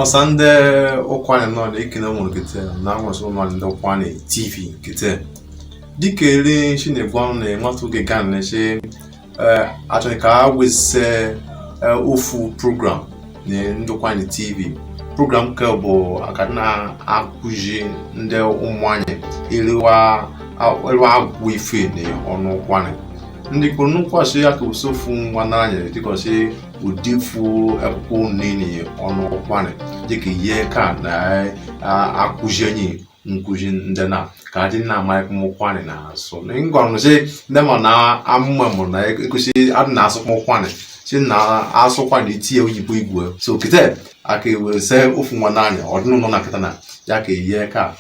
ọsa ndị ụkwụanị nọ na ekele nwere kete na nwesị ụlọ ndị ụkwụanị tv kete dịka eri nshi na-egbu ọnụ na enwata oge ga na eche achọ ka a wese ofu program na ndị ụkwụanị tv program nke bụ aka na-akụzi ndị ụmụanyị ịrịwa agụ ife na ọnụ ụkwụanị ndị kwuru n'ụkwasị ya ka e wese ofu nwanne anyị dịkọsị ọ dị ofu akwụkwọ nini ọnụ ụkwụanị dịka ihe ka na-akụzi enyi nkụzi ndị na ka adị na amaghị kpọm ụkwụanị na asụ ngwanụzi ndị ma na amụma mụ na egosi adị na asụ kpọm ụkwụanị si na asụ ụkwụanị etinye oyibo igwe so kịta a ka ewese ofu nwanne anyị ọdịnụlọ na kịta na ya ka ihe ka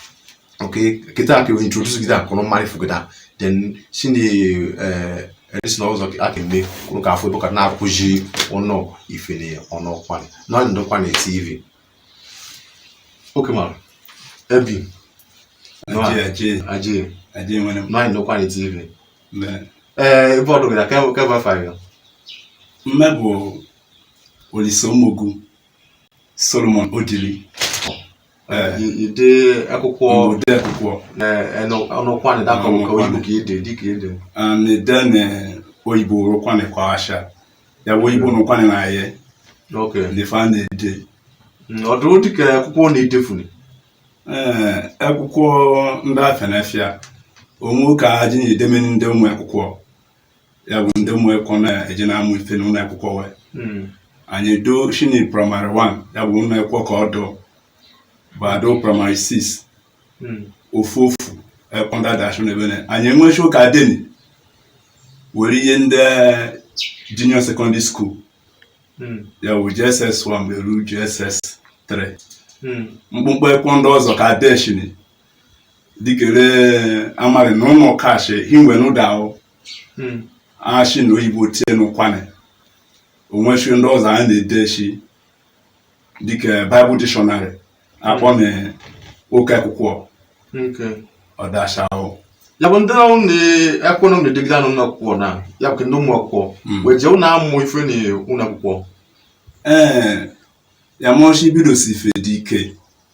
okay kịta ka introduce gị akụrụ mmadụ fụgịda then si na eresi na ụzọ aka eme kwuru ka afọ ịbụka na-akụzi unu ife na ọnụ ụkwụanị na ndị ụkwụanị tv oke mara ebi ajee na ndị ụkwụanị tv ee ebe ọdụ gị na kebe efa mme bụ olise ụmụgwu solomon odili ide akwụkwọ ide akwụkwọ na ụkwụanị dakọ ka oyibo ka ide dịka ide na ide na oyibo ru ụkwụanị kwa asha ya bụ oyibo na ụkwụanị na ya n'ife a na-ede ọdụ dịka akwụkwọ na-edefuni ee akwụkwọ ndị afụ na afịa onwe ka aji na-edeme ndị ụmụ akwụkwọ ya bụ ndị ụmụ akwụkwọ na-eje na-amụ ife n'ụlọ akwụkwọ wee hmm. anyị deshini primary 1 ya bụ ụlọ akwụkwọ ka ọ dụ bụ ado primary 6 hmm. ofu ofu akwụkwọ ndị a dashụ na ebe na anyị enwechi ụka deni were nye ndị junior secondary school hmm. ya bụ JSS 1 beru JSS 3 mkpụmkpụ akwụkwọ ndị ọzọ ka deshini dikere amari na ụlọ kashi hinwe n'ụda ahụ hmm. ashi na oyibo tinye n'ụkwụanị onweshi ndị ọzọ anyị na-ede shi dịka Bible dictionary akpọ na oke akwụkwọ ọdashi ahụ ya bụ ndị ahụ na-ekwe na na-edegide anụ ụlọ akwụkwọ na ya bụ ndị ụmụ akwụkwọ hmm. wee jee ụlọ amụ ife na ụlọ akwụkwọ ee ya mọshi bidosi ife dị ike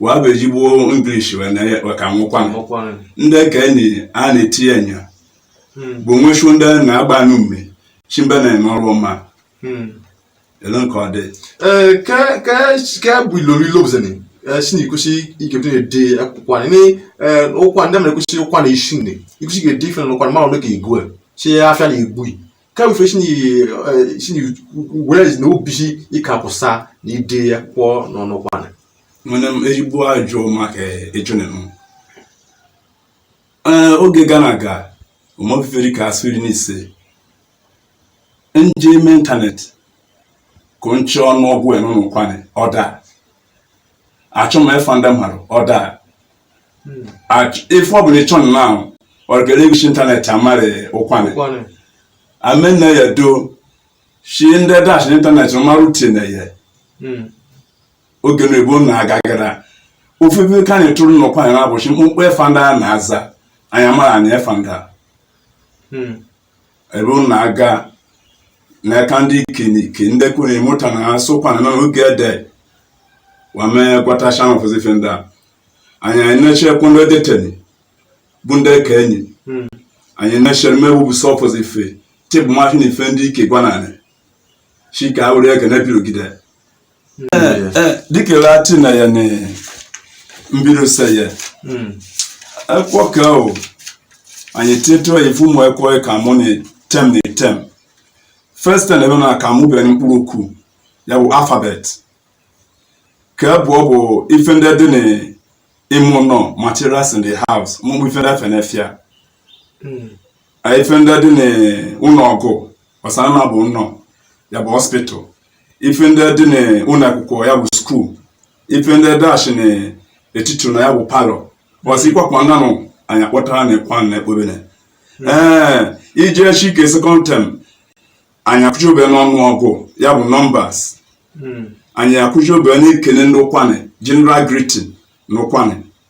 wee bụ ezigbo English wee na ka n'ụkwụanị ndị ka enyi a na-etinye nya hmm. bụ nwechu ndị na-agba anụ mme chimbe na-eme ọrụ ọma hmm. elu nke ọ dị ka bụ ilori lobzeni si na ikwesị ikebute na-ede akwụkwọ anyị ụkwa ndị mere kwesị ụkwa na isi nne ikwesị ga-ede ife na ụkwa mmadụ dị ka igwe chi ya afịa na igwe kawufe chinyigwezi na obichi ịkapụsa na ide ekwụkwọ n'ọnụ ụkwanị nwere m ezigbo ajụ maka ejunenụ ee oge gana aga omofiferi ka asịrị n'ise nje ime ịntanetị ka nche ọnụọgụ n'ọnụ ụkwanị ọda achọ m efa ndị mmadụ ọda ife ọbụla ịchọ na ahụ ọrịkere egosi ịntanetị amarị ụkwanị amenne ya do shi ndị dash ịntanetị marụ tine ya hmm. oge na ebo na agagara ofefe ka anyị tụrụ n'ụkwanị na-abụchi mkpụmkpụ efa ndị a na-aza anyị mara anyị efa ndị a hmm. ebe unu na-aga n'aka ndị ikenike ndị kwuru ịmụta na ha sokwa na n'oge ede wame gwata shan of zife ndị a anyị anyị na-echekwa ndị deteni bụ ndị ka enyi hmm. anyị na-echere mewu bụ sọfọs ife tebụl mashin ife ndị ike gwananị chika awụrụ eke na-ebirogide dikere achị na ya na mbirose ya ekwo ka o anyị tietụrụ ya ife ụmụ ekwụkwọ ka mụ na tem na tem first term ebe na ka mụ bere mkpụrụ okwu ya bụ alfabet ka bụ ọ bụ ife ndị dị na ime ụnọ materials in the house mụmụ ife ndị efe n'afịa ife ndị dị na ụnọ ọgwụ ọsana na bụ ụnọ ya bụ hospital ife ndị dị na ụnọ ekwụkwọ ya bụ skuul ife ndị dash na etiti ụnọ ya bụ palọ bọsị ịkwakwa nanụ anyị akpọtara na ekwa na ekpobene ee iji echi ike sekọnd tem anyị akuzi obere n'ọnụ ọgụ ya bụ nọmbas hmm. anyị akuzi obere n'ekele na ụkwanị general greeting na ụkwanị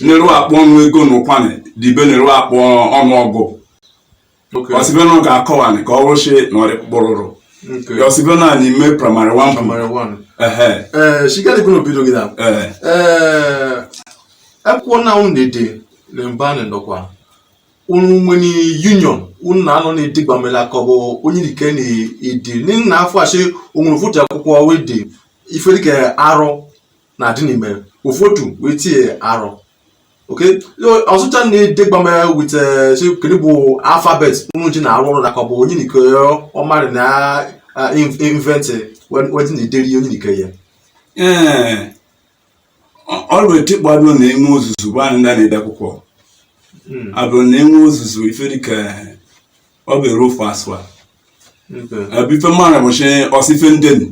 neru akpọ ọnụ ego na ụkwanị dibe neru akpọ ọnụ ọgụ ọsibena ga-akọwanị ka ọ rụchie na ọrịkpụrụrụ ọsibena anyị mee praịmarị 1 praịmarị 1 ehe ee shigadịgo n'obido gị na ee ee ekwuo na unu dede na mba anyị nọkwa unu nwere union unu na-anọ na-edegbame la ka ọ bụ onye nke na-ede n'ihi na afọ achị onwere fụta ekwụkwọ wee de ife dịka R na adị n'ime ụfọdụ wee tinye R oke ọzụcha na-edegbama wit eh, kedu bụ alfabet unu ji na-arụ ọrụ na ka ọ bụ onye nke ọmarị na inventị weji na-ederi onye nke ya ee ọrụ etikpado na enwe ozuzu bụ anyị ndị na-ede akwụkwọ hmm. abụrụ na enwe ozuzu ife dịka ọ bụ eru ofu asụa ebe ife mara bụchi ọsị ife ndenu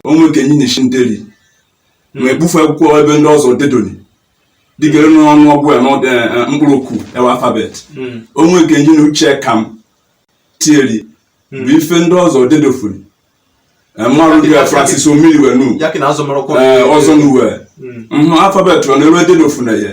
onwe nke nyi na-esi nderi ma ebufe akwụkwọ ebe ndị ọzọ dedoli dịka ere n'ọnụ ọgụ ya n'ọdụ eh, eh, mkpụrụ okwu ewe alfabet hmm. onwe nke nyi na uche ka m tieri hmm. bụ ife ndị ọzọ dedofuri eh, mmarụ ndị a francis omiri wee nu ọzọ nu wee alfabet ọ na-eru ededofu na ya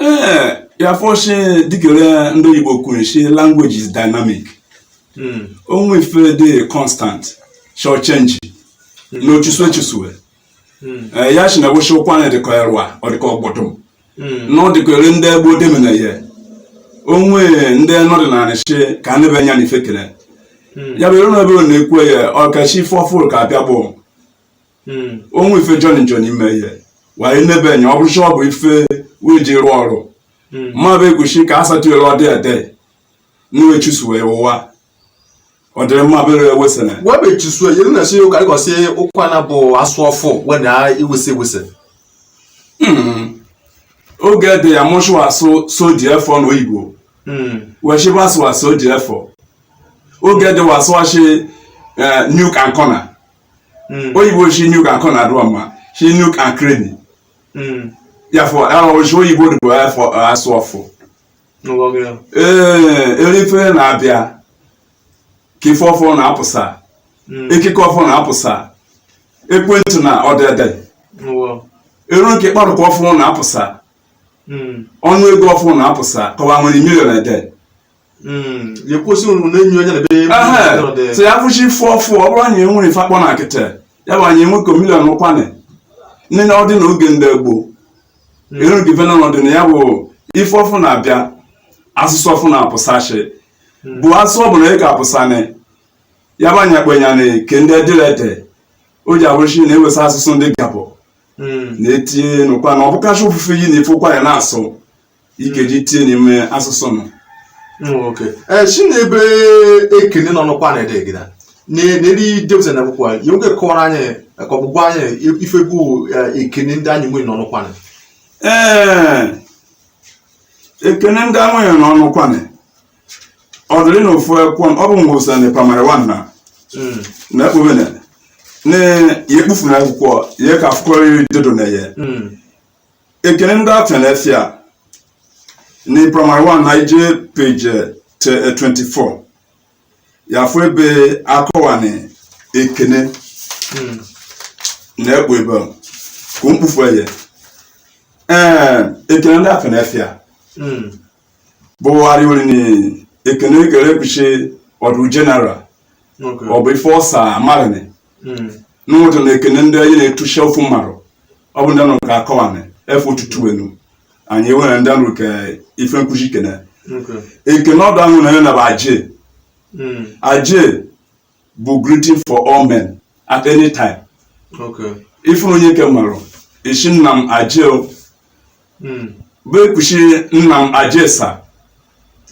ee ya fọshi dịka ere ndị oyibo kwuru shi language is dynamic hmm. onwe ife dị constant shall change hmm. na ochusu echusue hmm. eh, ya shi na wụshi ụkwanị dịka erwa ọ dịka ọgbọdọ na ọ dịka ere ndị gboo demena ihe onwe ndị nọdụ na anịshi ka ndị be anya na ife kele ya bụ ere na ebe ọ na-ekwe ya ọkachi ife ọfụrụ ka abịa bụ hmm. onwe ife joni joni ime ihe wee nebe enye ọ bụrụcha ọ bụ ife wee ji rụọ ọrụ hmm. mmadụ ekwuchi ka a satụere ọdị ede nwe chusu wee ụwa ọ dịrị mma bere ewesịna wee be chusu yere na si ụka ịgọsi ụkwanị bụ asụ ọfụ wee na iwesị ewesị hmm. oge dị ya mụchụ asụ soji efọ na oyibo hmm. wee chịba asụ asụ soji efọ oge dị wasụ achị eh, nook and corner hmm. oyibo shi nook and corner adụ ọma shi nook and cranny ya fọ shi oyibo dịbụ asụ ọfụ ee ere ife na-abịa ka ife ọfụ na-apụsa hmm. ekike ọfụ na-apụsa ekwentị na ọdede eru nke mkpụrụ okwu ọfụ na-apụsa hmm. ọnụ ego ọfụ na-apụsa kọwa nwere million ede Hmm, ya kwụsị unu na-enyi onye na-ebe so ya fụsị ife ọfụ ọ bụrụ na ya nwere ife akpọ na nkịtị ya bụ anyị enweko million n'ụkwanị nne na ọ dị na oge ndị gboo hmm. eru gị vena n'ọdịna ya bụ ife ọfụ na-abịa asụsụ ọfụ na-apụsachi hmm. bụ asụsụ ọ bụla ị ga-apụsanị ya bụ anya kpenya na ke ndị edilede o ji abụrụchi na ewesa asụsụ ndị gabụ na-etinye n'ụkwanị ọ bụkacha ofufe yi na ife ụkwanị na-asụ ikeji tie n'ime asụsụ m nwoke ee si na ebe ekene n'ọnụ ụkwanị ede gida n'eri depụta na akwụkwọ ya nwoke kọwara anyị ka ọ bụ gwa anyị ife bụ eh, ekene ndị anyị nwere n'ọnụ ụkwanị ee ekene ndị anyị nwere n'ọnụ ụkwanị ọ dịrị na ofu akwụkwọ ọ bụ mgbe ụsa na primary 1 na na ekpobene na ya ekpufu na akwụkwọ ya ka akwụkwọ riri dedo na ya ekene ndị afịa na efe a na primary 1 na ije page 24 ya fụ ebe akọwanị ekene hmm. na ekpo ebe ka mkpufu eye ee ekene ndị afịa na efe a bụ arịori na ekene e kere kwusi ọ dụ general ọ bụ ife ọsa marini hmm. n'ụdị ekene ndị anyị na-etucha ofu mmarụ ọ bụ ndị nọ ka akọwani efe ụtụtụ enu anyị enwere ndị nrụ ka ife m kwusi kene ekene ọdụ ahụ na ya na bụ aje hmm. aje bụ greeting for all men at any time ife onyeke mmarụ isi nna m aje hmm. bụ e kwusi nna m aje sa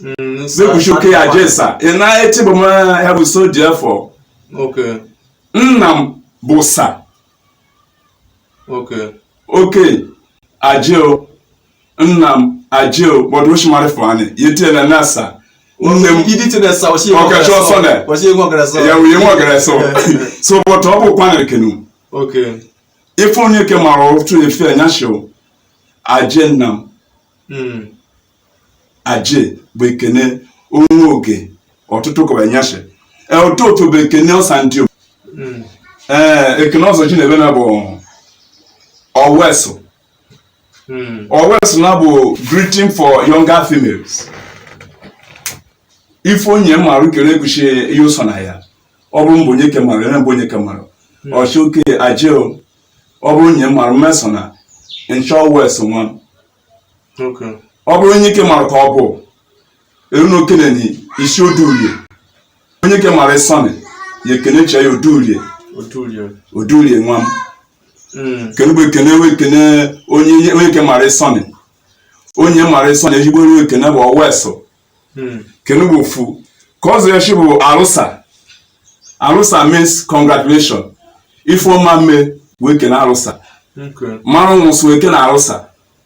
hmm, bụ e kwusi oke aje sa ị na-eti bụ m ya bụ so dị afọ nna m bụ sa oke aje o nna m aje o but osimiri fani yetiela nasa nne m ọkacha ọsọ na ya nwunye nwa gara so so but ọ bụ kwanere kenu ife onyeke mmarụ otu efe anyashị o aje nna m hmm. aje bụ ekene onwe oge ụtụtụ kọbụ anyashị e, otofe bụ ekene ọsa ndiom hmm. ee eh, ekene ọzọ ji na ebe na bụ owesu hmm. owesu na bụ greeting for younger females ife onye mmarụ kere ekwushi ihe ụsọ na ya ọ bụrụ mgbe onyeke mmarụ ere mgbe onyeke mmarụ hmm. ọ shị oke aje ọ bụrụ onye mmarụ mesọ na nchọ owesu nwa ọ bụrụ onyeke mmarụ ka ọ bụ eru na okenenyi i si odurie onyeke mmarụ sọnị ya ekene chee ya odurie odurie nwa m hmm. kenugbu ekene we ekene onye onyeke mmarụ sọnị onye mara sọnị ezigbo onye ekene bụ owesu hmm. kenugbu ofu ka ọ zụrụ echi bụ arụsa arụsa means congratulation ifeoma mee wee kene arụsa mmarụ nwụsụ wee kene arụsa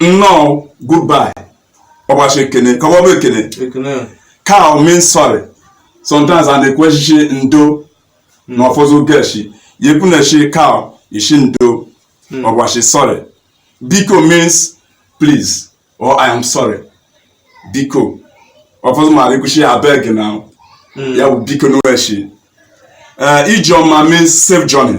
nnọọ goodbye ọgbachi ekene ka ọ bụ ekene kao means sorry sometimes a na-ekwushi ndo na ọfọzụ geshi yekwu na-echi kao i shi ndo hmm. ọgbachi sorry biko means please or i am sorry biko ọfọzụ mmarụ ekwushi abeg na hmm. ya bụ biko n'echi eh, ije ọma means safe journey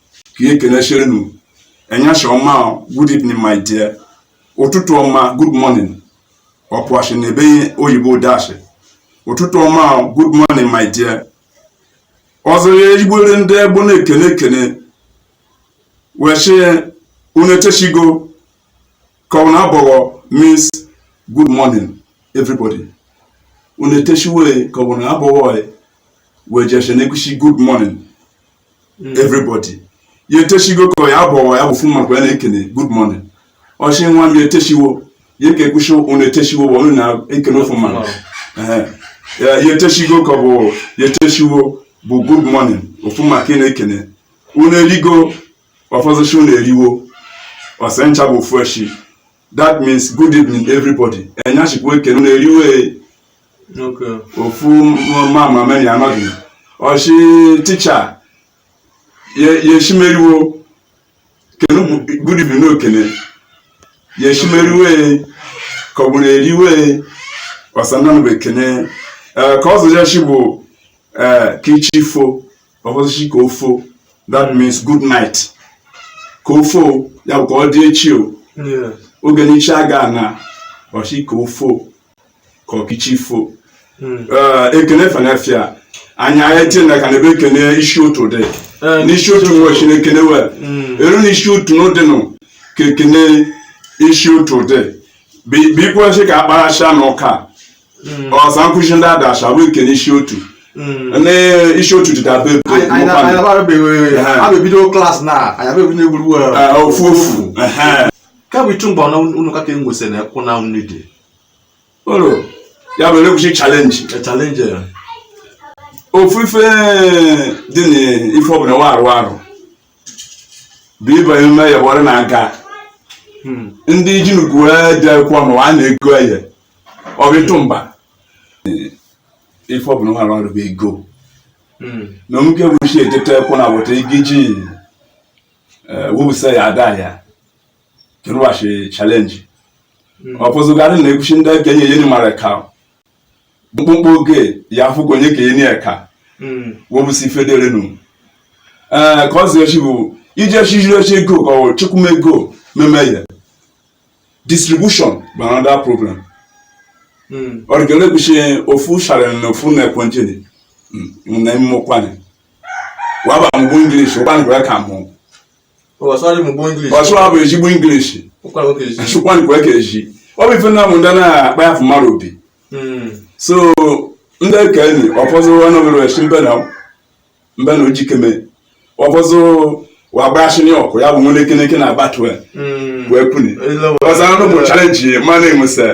ka ekenechere nu enyasha ọma good evening my dear ụtụtụ ọma good morning ọpụashi na ebe oyibo dashi ụtụtụ ọma good morning my dear ọzọ ya igbere ndị egbo na-ekene ekene wee sị unu eteshigo ka ọ bụ na abọwo means good morning everybody unu eteshiwe ka ọ bụ na abọwo wee jeshe na-ekwusi good morning mm. everybody ya etechigo ka ya bụ ya bụ ofu maka ya na-ekene good morning ọ sị nwa m ya etechiwo ya ka ekwu sị ụnụ etechiwo bụ ọnụ na-ekene ofu mmadụ ya etechigo ka ọ bụ ya etechiwo bụ good morning ofu maka ị na-ekene ụnụ erigo ọfọzụchi ụnụ eriwo ọsị ncha bụ ofu echi that means good evening everybody enyachikwu ekene na-eriwe ofu mama meri anọghị ọ sị teacher yeshimeriwo kenu good evening n'okene yeshimeriwe ka ọ bụ na-eriwe ọsananụ bụ ekene eh, ka ọ zụjachi bụ eh, ka chi fo ọbọzichi ka ofo that means good night ka ofo ya bụ ka ọ dị echi o oge n'ichi aga na ọ sị ka ofo ka ọkịchi fo hmm. eh, ekene fanafia anyị anya tinye na ka na ebe ekene isi ụtụ dị eh, n'isi ụtụ nwe chineke na-ewe hmm. eru n'isi ụtụ n'ụdịnụ ka ekene isi ụtụ dị bụ ikwu sị ka akparacha na ụka hmm. ọsa m kwu sị ndị adacha bụ nke n'isi otu hmm. n'isi otu dị dabe ebido class na eh, ofu ofu kebụ ichu mgbe ọna unu kaka enwesị na ekwụ na nri dị ya bụ elekwuchi challenge challenge ofu ife dị n'ife ọbụla wa arụ arụ bụ ịbanye ume ya bụ ọrụ na-aga ndị ji nnukwu wee dị akwụkwọ ma a na-ego ya ọ bụ ịtụ mba ife ọbụla nwere ọrụ bụ ego hmm. na omuke bụ chi etete kwụ na weta igi ji eh, wụsa ya ada ya kerụghachi challenge hmm. ọ pụzụgarị na ekwu sị ndị ka enyeni mmadụ eka mkpụmkpụ oge ya afụkwa onye ka enyeni eka hmm. wụbụsi ife derenu ee eh, ka ọ zi echi bụ iji echi jiri echi ego ka ọ chụkwum ego meme ya distribution bụ another problem hmm. ọrịgele kwu sị ofu sharịrị na ofu na-ekwentị dị hmm, na ime Ukwuani waba mgbu English Ukwuani kwere ka mụ asụ abụ ezigbo English Ukwuani kwere ka eji ọ bụ ife na mụ ndị na-akpa ya afụ mmadụ obi hmm. so ndị ka enyi ọfọzụ ọnụ were esi mbe na mbe na ojikeme ọbọzọ wagbashini ọkụ ya bụ nwere ekeneke na batwe hmm. wee puni ọzọ anụ bụ challenge mmanụ enwesa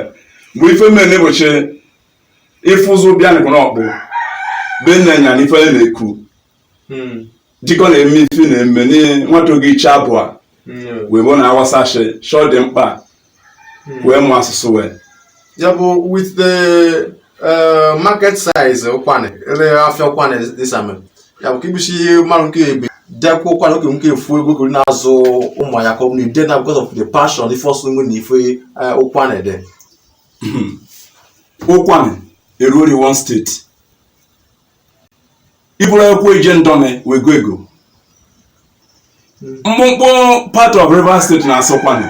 mgbe ife mme na-ebochi ịfụzụ bịa nịkwa n'ọkpụ be nne ya na ife na-ekwu hmm. jikọ na-eme ife na-eme nwata oge iche abụọ hmm. wee bụ na awasa shọ dị mkpa wee mụ asụsụ we ya bụ with the eh, market size ụkwanị ele afịa ụkwanị dịsame ya bụ ka ibisi ihe mmadụ nke ebe dekwa ụkwanị oke nke efu ego gori na-azụ ụmụ ya ka ọ bụ na ide na because of the passion ife ọsụ nwe na ife eh, ụkwanị ndị ụkwanị eruori one steeti i buru ụkwụ je ndọnị wee go ego mkpụmkpụ part of Rivers State na-asụ ụkwanị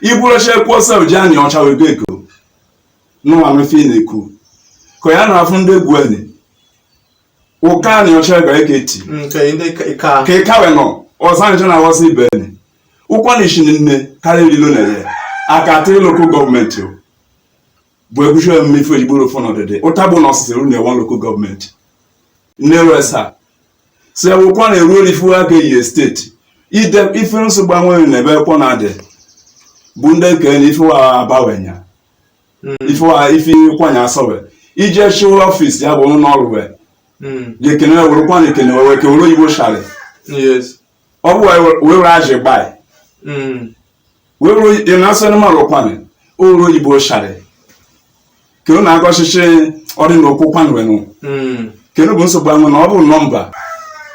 i buru ụkwụ sef je anịọcha wee go ego n'ụwanụfe ị na-ekwu ka ya na-afụ ndị egwu enyi ụka anịọcha gara eke ti ka ịka wee nọ ọzọ anyị na aghọsị ibe enyi ụkwanị shi nne karịa ilo na-ere aka three lokal gọọmenti o bụ ebuchi omume ife ejigboro ofu n'ọdịdị ụta bụ na ọsịsịrị na ewa lokal gọọmenti nneresa si ụkwanị eruori ife wa ga-eye steeti ide ife nsogbu enwe na ụkwanị dị bụ ndị kene ife wa abawenya ife wa ife kwanya asọwe ije chụọ ọfịs ya bụ ụlọ ọrụ wee ga-ekene were ụkwanị ekene wee kewere oyibo shari yes ọ bụ wee were ajị gbai wee ruo ị na-asị anụmanụ ụkwanị oru oyibo shari ka ọ na-aga ọchịchị ọdị na okwu kwanwenụ kenụ ọ bụ nsogbu anwụ na ọ bụ nọmba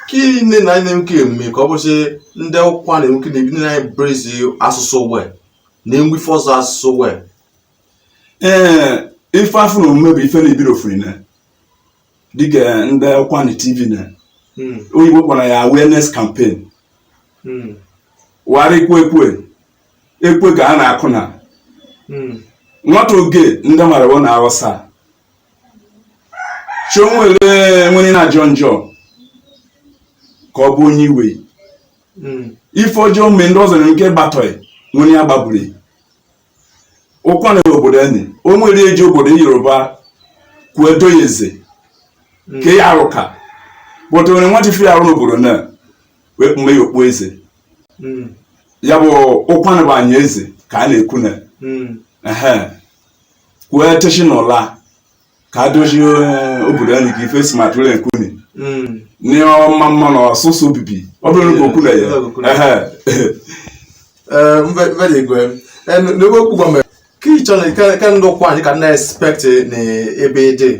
ka nne na anyị na-enwe eme ka ọ bụsị ndị ụkwanị we ka na-ebi na brezi asụsụ we na-enwe ife ọzọ asụsụ we ee ife afụ na omume bụ ife na-ebido ofurine dịka ndị ụkwanị tv na Mm. oyibo kpọrọ ya awareness campaign Mm. wara ekwe ekwe ekwe ka a na-akụ na Mm. nwata oge ndị mara bụ na awụsa chionwere nwere na ajọ njọ ka ọ bụ onye iwe Mm. ife ọjọọ mee ndị ọzọ nwere ike gbatọị nwere ya gbagburu ụkwanị obodo enyi o nwere eji obodo yoruba kwa do ya eze hmm. ka ya arụka bụta nwere nwantị ife arụ obodo na wee kpume ya okpu eze hmm. ya bụ ụkwanị bụ anyị eze ka a na-ekwu na hmm. kwa teshi na ụla ka a dozie eh, obodo anyị ka ife si ma tụrụ nke unu Mm. n'ọma mma na ọsụsụ obibi ọ bụrụ na okwu na ya ehe Eh, mbe mbe dị igwe Eh, n- n'ebe okwu gwa mere ka ị chọrọ ka ka ndị ụkwanị ka na-expect na ebe ị dị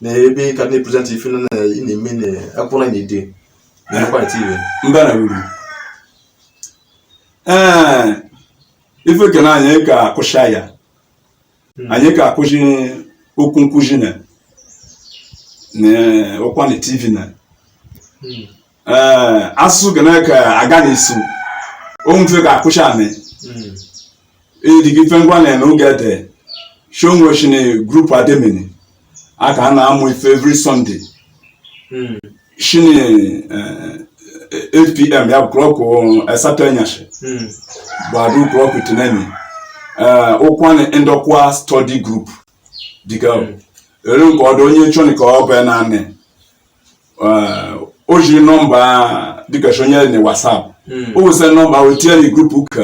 na ebe ị ka na-epresent ife na na- ị na-eme na akwụkwọ na ide na ụkwanị tv mba na uru ee ife kene anyị ka akwụshị ya hmm. anyị ga-akụzi okwu nkụzi na ụkwanị tv na hmm. eh, asụsụ ga na-eke aga na isu onwe mfe ga-akụzi amị ịdịgị hmm. ife ngwa na-eme oge ete shonwe shi na group admin a ka a na-amụ ife every Sunday hmm. shini 8pm eh, eh, ya bụ klọkụ asatọ eh, enyasị hmm. gbadu klọkụ iteneni ụkwanị ndọkwa study group dịka hmm. ere nke ọdụ onye chọni ka ọ bụ naanị o jiri nọmba dịka onye na whatsapp o wụsị nọmba o tinye na grupu ka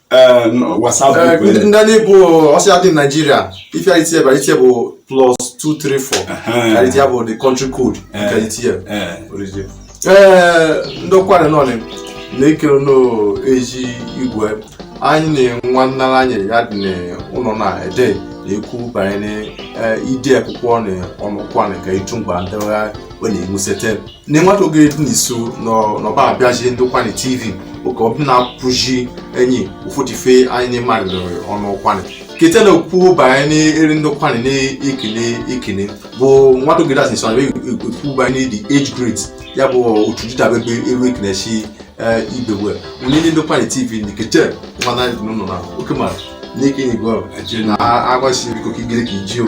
ndị anyị bi outside naijiria ifeara itinye bara itinye bụ plus 234 karịa ya bụ the country code nke itinye ee ndị ụkwanị nọ na-ekere n'ezi igwe anyị na nwa nnara anyị ya dị n'ụlọ na ede na-ekwu banyere ide akwụkwọ na ọnụkwa na nke ịchụ mgba ndịgha ọ na-enwusete ne nwata oge dị n'iso n'ọba abịaji ndị ụkwanị tv oke ọbụ na-akụji enyi ụfọdụ ife anyị na-emarị ọnụ ụkwanị kete na-ekwu banye n'eri ndị ụkwanị na-ekene ekene bụ nwata oge dị n'iso na ekwu banye ne the age grade ya bụ otu dịdabebe eru ekenechi ibewe onye ndị ụkwanị tv na kete nwa na nọ na oke mara n'ike n'igwe ọ na agbasi biko ka igere ka iji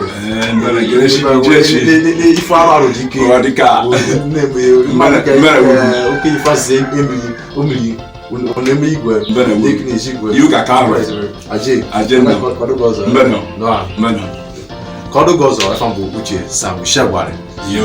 ife arụ arụ dị ike oke ife asị emiri o miri oneme igwe n'ike n'ezi igwe aje ka ọ dị oge ọzọ efa m bụ uche sam shagwari yo